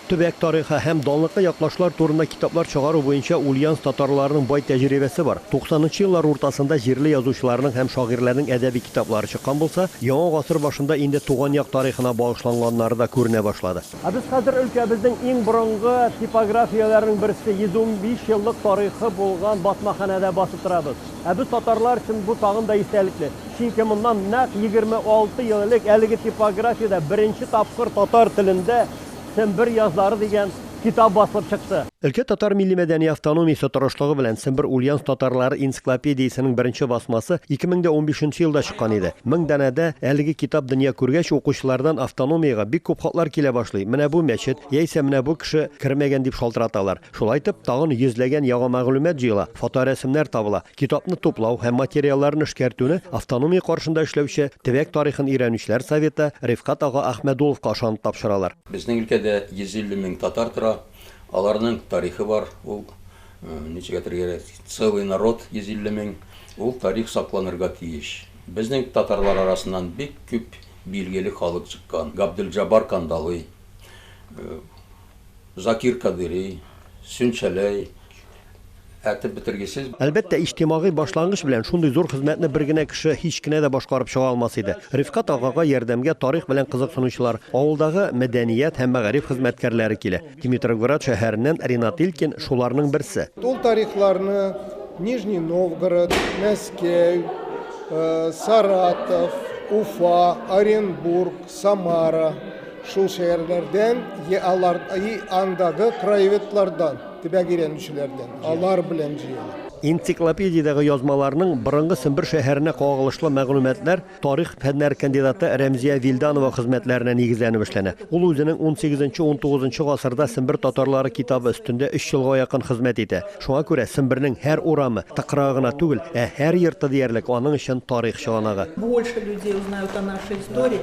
Төбәк тарихы һәм данлыклы яклашлар турында китаплар чыгару буенча Ульяновск татарларының бай тәҗрибәсе бар. Туксанынчы еллар уртасында җирле язучыларның һәм шагыйрьләрнең әдәби китаплары чыккан булса, яңа гасыр башында инде туган як тарихына багышланганнары да күренә башлады. Ә без хәзер өлкәбезнең иң борынгы типографияләренең берсе, 115 еллык тарихы булган басмаханәдә басып торабыз. Ә без татарлар өчен бу тагын да истәлекле. Чөнки моннан нәкъ 26 ел элек әлеге типографиядә беренче тапкыр татар телендә Сембер язлары дигән китап басылып чыкты. Өлкә татар милли-мәдәни автономиясе тырышлыгы белән Сембер Ульяновск татарлары энциклопедиясенең беренче басмасы 2015 нче елда чыккан иде. Мең данәдә әлеге китап дөнья күргәч, укучылардан автономиягә бик күп хатлар килә башлый, менә бу мәчет, яисә менә бу кеше кермәгән дип шалтыраталар. Шулайтып, тагын йөзләгән яңа мәгълүмат җыела, фоторәсемнәр табыла. Китапны туплау һәм материалларны эшкәртүне автономия каршында эшләүче Төбәк тарихын өйрәнүчеләр советы Рифкат ага Әхмәдуловка ышанып тапшыралар. Безнең өлкәдә 150 мең татар тора, аларның тарихы бар, ул, ничек әйтергә кирәк, целый народ, 150 мең, ул тарих сакланырга тиеш. Безнең татарлар арасыннан бик күп билгеле халык чыккан, Габделҗаббар Кандалый, Закир Кадыйри, Сөнчәләй, әйтеп бетергесез. Әлбәттә, иҗтимагый башлангыч белән шундый зур хезмәтне бер генә кеше һич кенә дә башкарып чыга алмас иде. Рифкать агага ярдәмгә тарих белән кызыксынучылар, авылдагы мәдәният һәм мәгариф хезмәткәрләре килә. Димитровград шәһәреннән Ринат Илькин, шуларның берсе. Ул тарихларны Нижний Новгород, Мәскәү, Саратов, Уфа, Оренбург, Самара, Шул шәһәрләрдән, йә алар, и андагы краеведлардан, төбәк өйрәнүчеләрдән, алар белән җыела. Энциклопедиядәге язмаларның борынгы Сембер шәһәренә кагылышлы мәгълүматлар тарих фәннәре кандидаты Рәмзия Вилданова хезмәтләренә нигезләнеп эшләнә. Ул үзенең унсигезенче-унтугызынчы гасырда Сембер татарлары китабы өстендә өч елга якын хезмәт итә. Шуңа күрә Сембернең һәр урамы, тыкрыгы гына түгел, ә һәр йорты диярлек аның өчен тарих чыганагы. Больше людей узнают о нашей истории.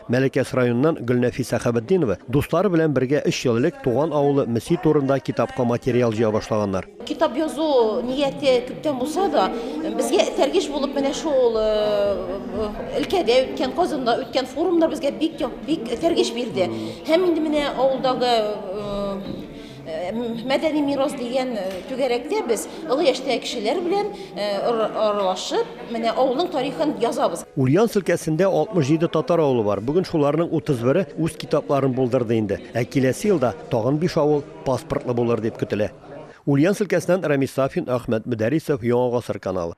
Мәләкәс районыннан Гөлнәфис Сәхәбетдинова дуслары белән бергә өч ел элек туган авылы Мөси турында китапка материал җыя башлаганнар. Китап язу нияте күптән булса да, безгә этәргеч булып менә шул өлкәдә үткән, Казанда үткән форумнар безгә бик этәргеч бирде. Һәм инде менә авылдагы Мәдәни мирас дигән түгәрәктә без олы яшьтәге кешеләр белән аралашып, менә авылның тарихын язабыз. Ульяновск өлкәсендә 67 татар авылы бар. Бүген шуларның 31-е үз китапларын булдырды инде. Ә киләсе елда тагын биш авыл паспортлы булыр дип көтелә. Ульяновск өлкәсеннән Рамис Сафин, Әхмәт Мөдәрисов, Яңа гасыр каналы.